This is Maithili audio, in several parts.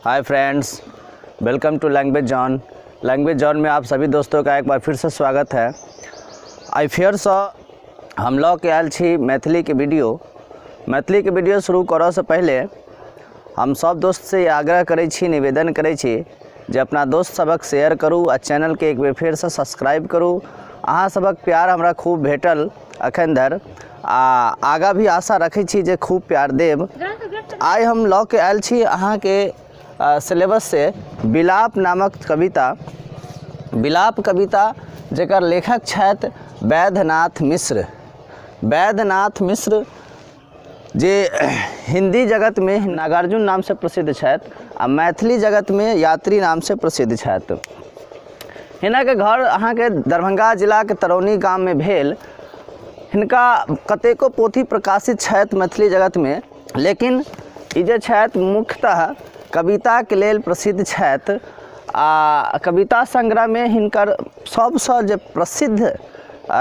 hi friends welcome to language zone language zone में आप सभी दोस्तों का एक बार फिर से स्वागत है आई फेयर सॉ हम लोग के आयल छी मैथिली के वीडियो मैथिली के वीडियो शुरू करऽ से पहले हम सब दोस्त से ई आग्रह करै छी निवेदन करै छी जे अपना दोस्त सबक शेयर करू आ चैनल के एक बेर फेर से सब्सक्राइब करू अहाँ सबक प्यार हमरा खूब भेटल अखन धरि आ आगाँ भी आशा रखै छी जे खूब प्यार देब आइ हम लऽ के आयल छी अहाँके सिलेबस से बिलाप नामक कविता बिलाप कविता जकर लेखक छथि वैद्यनाथ मिश्र वैद्यनाथ मिश्र जे हिंदी जगतमे नागार्जुन नामसँ प्रसिद्ध छथि आ मैथिली जगतमे यात्री नामसँ प्रसिद्ध छथि हिनक घर अहाँके दरभंगा जिलाके तरौनी गाममे भेल हिनका कतेको पोथी प्रकाशित छथि मैथिली जगतमे लेकिन ई जे छथि मुख्यतः कविताके लेल प्रसिद्ध छथि आ कविता संग्रहमे हिनकर सबसँ जे प्रसिद्ध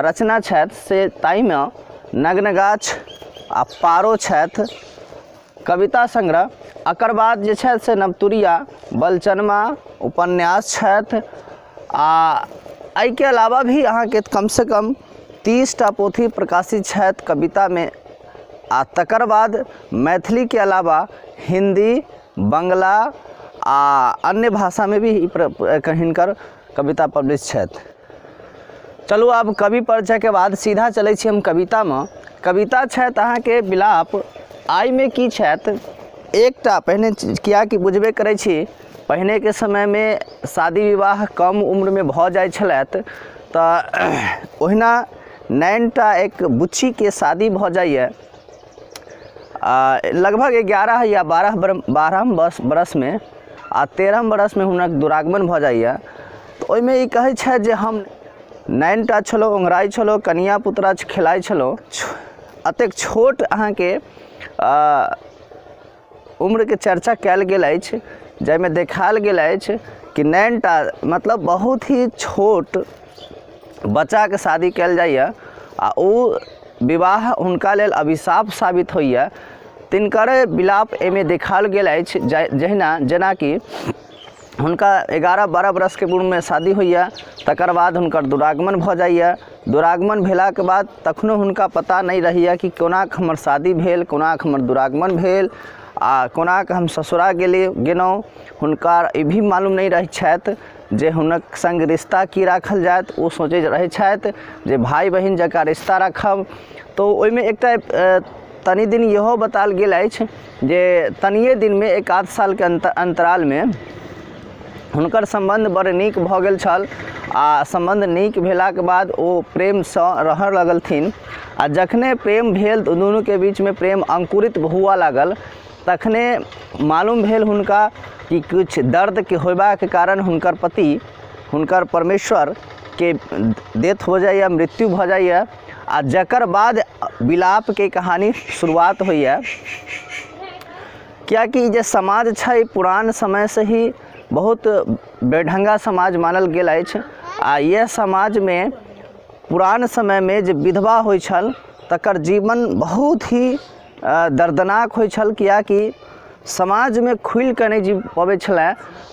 रचना छथि से ताहिमे नग्न गाछ आ पारो छथि कविता संग्रह एकर बाद जे छथि से नवतुरिया बलचनमा उपन्यास छथि आ एहिके अलावा भी अहाँके कम सऽ कम तीस टा पोथी प्रकाशित छथि कवितामे आ तकर बाद मैथिलीके अलावा हिन्दी बंगला आ अन्य भाषामे भी एकर हिनकर कविता पब्लिश छथि चलू आब कवि परिचयके बाद सीधा चलै छी हम कवितामे कविता छथि अहाँके विलाप आइमे की छथि एकटा पहिने किएकि बुझबे करै छी पहिनेके समयमे शादी विवाह कम उम्रमे भऽ जाइ छलथि तऽ ओहिना नाइन टा एक बुच्चीके शादी भऽ जाइए आ लगभग एगारह या बारह बारह बस बरसमे आ तेरह बरसमे हुनक दुरागमन भऽ जाइए तऽ ओहिमे ई कहै छथि जे हम नाइन टा छलहुँ ओंघराइ छलहुँ कनिया पुतरा खेलाइ छलहुँ अतेक छोट अहाँके आ उम्रके चर्चा कयल गेल अछि जाहिमे देखायल गेल अछि कि नाइन टा मतलब बहुत ही छोट बच्चाके शादी कयल जाइए आ ओ विवाह हुनका लेल अभिशाप साबित होइए तिनकरे विलाप एहिमे देखायल गेल अछि जहिना जेनाकि हुनका एगारह बारह बरखके उम्रमे शादी होइया तकर बाद हुनकर दुरागमन भऽ जाइया दुरागमन भेलाके बाद तखनो हुनका पता नहि रहैया कि कोना कऽ हमर शादी भेल कोना कऽ हमर दुरागमन भेल आ कोना कऽ हम ससुरा गेली गेलहुॅं हुनका ई भी मालूम नहि रहै छथि जे हुनक संग रिश्ता की राखल जायत ओ सोचैत रहै छथि जे भाइ बहिन जेकाॅं रिश्ता राखब तऽ ओहिमे एकटा तनी दिन इहो बतायल गेल अछि जे तनिए दिनमे एक आध सालके अन्त अन्तरालमे हुनकर सम्बन्ध बड़ नीक भऽ गेल छल आओर सम्बन्ध नीक भेलाक बाद ओ प्रेमसँ रहऽ लगलथिन आओर जखने प्रेम भेल तऽ दुनूके बीचमे प्रेम अङ्कुरित हुअ लागल तखने मालूम भेल हुनका कि किछु दर्दके होयबाके कारण हुनकर पति हुनकर परमेश्वरके डेथ हो जाइए मृत्यु भऽ जाइए आ जकर बाद विलापके कहानी शुरुआत होइए किएकि ई जे समाज छै पुरान समयसँ ही बहुत बेढंगा समाज मानल गेल अछि आ इएह समाजमे पुरान समयमे जे विधवा होइ छल तकर जीवन बहुत ही अ, दर्दनाक होइ छल किएकि समाजमे खुलि कऽ नहि जी पबै छलए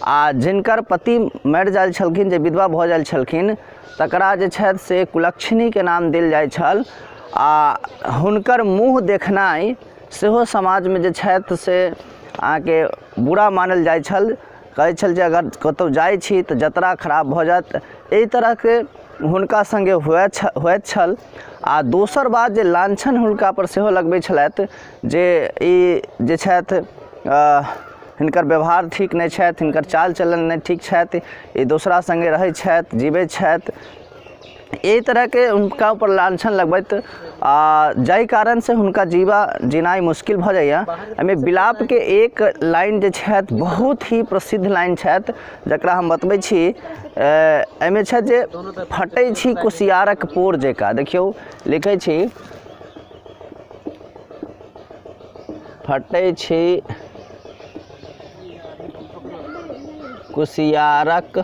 आ जिनकर पति मरि जाइत छलखिन जे विधवा भऽ जाइत छलखिन तकरा जे छथि से कुलक्षणीके नाम देल जाइत छल आ हुनकर मुँह देखनाइ सेहो समाजमे जे छथि से अहाँके बुरा मानल जाइत छल कहै छल जे अगर कतौ जाइ छी तऽ जतरा खराब भऽ जायत एहि तरहके हुनका संगे हुए छ होइत छल आ दोसर बात जे लांछन हुनका पर सेहो लगबै छलथि जे ई जे छथि हिनकर व्यवहार ठीक नहि छथि हिनकर चाल चलन नहि ठीक छथि ई दोसरा संगे रहै छथि जीबै छथि एहि तरहके हुनका ऊपर लांछन लगबैत आ जाहि कारण से हुनका जीवा जीनाइ मुश्किल भऽ जाइए एहिमे विलापके एक लाइन जे छथि बहुत ही प्रसिद्ध लाइन छथि जकरा हम बतबै छी ए, एहिमे छथि जे फटै छी कुसियारक पोर जकाँ देखियौ लिखै छी फटै छी कुसियारक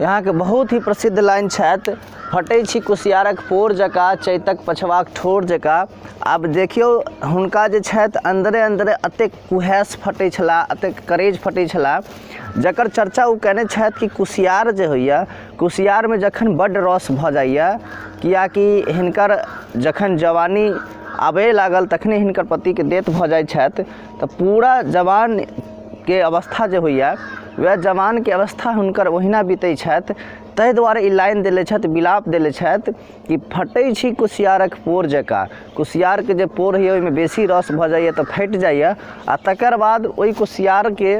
यहाँके बहुत ही प्रसिद्ध लाइन छथि फटै छी कुसियारक पोर जकाँ चैतक पछवाक ठोर जकाँ आब देखियौ हुनका जे छथि अन्दरे अन्दरे एतेक कुहेस फटै छला एतेक करेज फटै छला जकर चर्चा ओ कयने छथि कि कुसियार जे होइए कुसियारमे जखन बड्ड रस भऽ जाइए किएकि हिनकर जखन जवानी आबय लागल तखने हिनकर पतिके डेथ भऽ जाइ छथि तऽ पूरा जवानके अवस्था जे होइया वएह जवानके अवस्था हुनकर ओहिना बितै छथि ताहि दुआरे ई लाइन देले छथि विलाप देले छथि कि फटै छी कुसियारक पोर जकाँ कुसियारके जे पोर होइया ओहिमे बेसी रस भऽ जाइया तऽ फाटि जाइया आ तकर बाद ओहि कुसियारके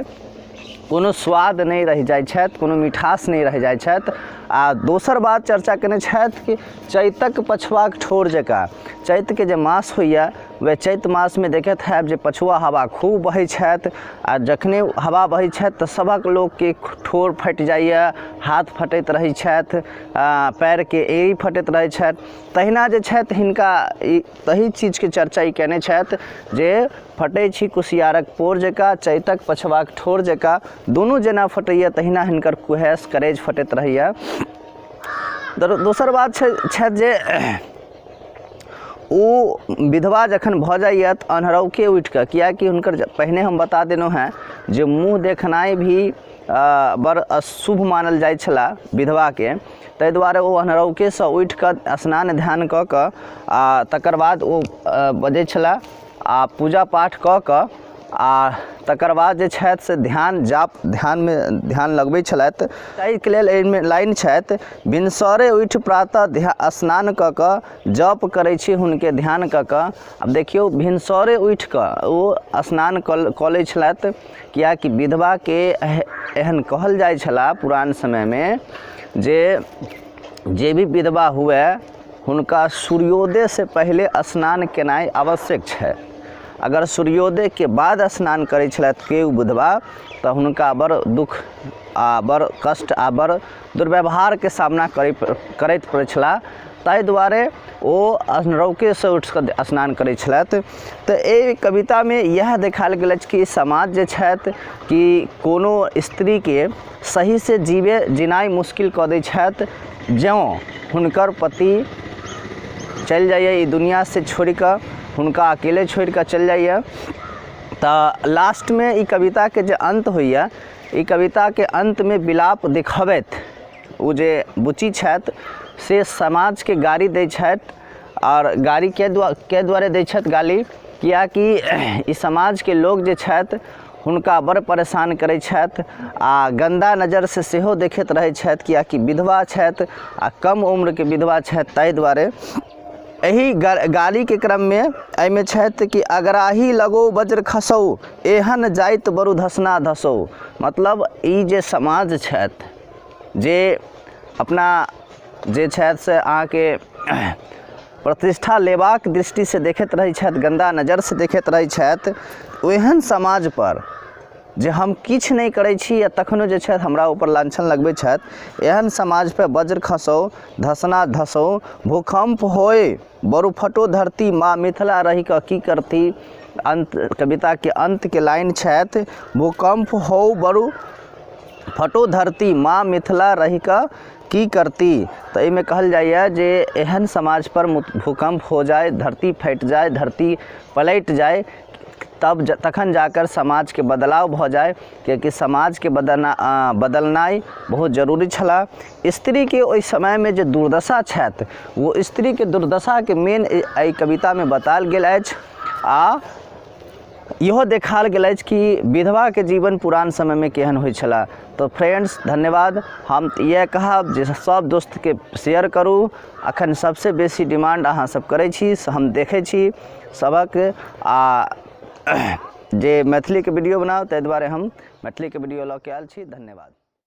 कोनो स्वाद नहि रहि जाइ छथि कोनो मिठास नहि रहि जाइ छथि आ दोसर बात चर्चा कयने छथि कि चैतक पछुआक ठोर जकाँ चैतके जे मास होइया वएह चैत मासमे देखैत होयब जे पछुआ हवा खूब बहै छथि आ जखने हवा बहै छथि तऽ सभक लोकके ठोर फाटि जाइया हाथ फटैत रहै छथि आ पैरके एड़ी फटैत रहै छथि तहिना जे छथि हिनका ई तहि चीजके चर्चा ई केने छथि जे फटै छी कुसियारक पोर जकाँ चैतक पछवाक ठोर जकाँ दुनू जेना फटैया तहिना हिनकर कुहेस करेज फटैत रहैया दोसर बात छै छथि जे ओ विधवा जखन भऽ जाइए तऽ अन्हरौके उठि कऽ किएकि हुनकर पहिने हम बता देलहुॅं हेँ जे मुँह देखनाइ भी बड़ अशुभ मानल जाइ छलए विधवाके ताहि दुआरे ओ अन्हरौके सँ उठि कऽ स्नान ध्यान कऽ कऽ आ तकर बाद ओ बजै छलए आ पूजा पाठ कऽ कऽ आ तकर बाद जे छथि से ध्यान जाप ध्यानमे ध्यान लगबै छलथि ताहिके लेल एहिमे लाइन छथि भिनसरे उठि प्रातः ध्या स्नान कऽ कऽ जप करै छी हुनके ध्यान कऽ कऽ आब देखियौ भिनसरे उठि कऽ ओ स्नान कऽ कऽ लै छलथि किएकि विधवाके एह- एहन कहल जाइ छला पुरान समयमे जे जे भी विधवा हुए हुनका सूर्योदय से पहिले स्नान केनाइ आवश्यक छै अगर सूर्योदय के बाद स्नान करै छलथि केओ बुधवा तऽ हुनका बड़ दुख आ बड़ कष्ट आ बड़ दुर्व्यवहार के सामना करै करैत पड़ै छला ताहि दुआरे ओ रौके से उठि कऽ स्नान करै छलथि तऽ एहि कविता मे इएह देखायल गेल अछि कि समाज जे छथि कि कोनो स्त्री के सही से जीवे जीनाइ मुश्किल कऽ दै छथि जँ हुनकर पति चलि जाइए ई दुनिया से छोड़ि कऽ हुनका अकेले छोड़ि कऽ चलि जाइए तऽ लास्टमे ई कविताके जे अन्त होइए ई कविताके अन्तमे विलाप देखबैत ओ जे बुच्ची छथि से समाजके गारी दै छथि आओर गारी किएक दुआ किएक दुआरे दै छथि गाली किएकि ई समाजके लोक जे छथि हुनका बड़ परेशान करै छथि आओर गन्दा नजरिसँ सेहो देखैत रहै छथि किएकि विधवा छथि आओर कम उम्रके विधवा छथि ताहि दुआरे एहि गा गालीके क्रममे एहिमे छथि कि अगराही लगो वज्र खसौ एहन जाइत बरु धसना धसौ मतलब ई जे समाज छथि जे अपना जे छथि से अहाँके प्रतिष्ठा लेबाक दृष्टि से देखैत रहै छथि गन्दा नजर से देखैत रहै छथि ओहन समाज पर जे हम किछु नहि करै छी आ तखनो जे छथि हमरा ऊपर लांछन लगबै छथि एहन समाज पर बज्र खसौ धसना धसौ भूकम्प होइ बरुफटो धरती माँ मिथिला रहि कऽ की करती अन्त कविताके अन्तके लाइन छथि भूकम्प हो बरु फटो धरती माँ मिथिला रहि कऽ की करती तऽ एहिमे कहल जाइए जे एहन समाज पर भूकम्प हो जाइ धरती फाटि जाइ धरती पलटि जाइ तब तखन जाकर समाजके बदलाव भऽ जाइ किएकि समाजके बदलना बदलनाइ बहुत जरूरी छलऽ स्त्रीके ओहि समयमे जे दुर्दशा छथि ओ स्त्रीके दुर्दशाके मेन एहि कवितामे बतायल गेल अछि आ इहो देखाल गेल अछि कि विधवाके जीवन पुरान समयमे केहन होइ छलए तऽ फ्रेंड्स धन्यवाद हम इएह कहब जे सब दोस्तके शेयर करू अखन सबसे बेसी डिमांड अहाँ सब करै छी से हम देखै छी सबक आ जे मैथिलीके वीडियो बनाउ ताहि दुआरे हम मैथिलीके वीडियो लऽ के आयल छी धन्यवाद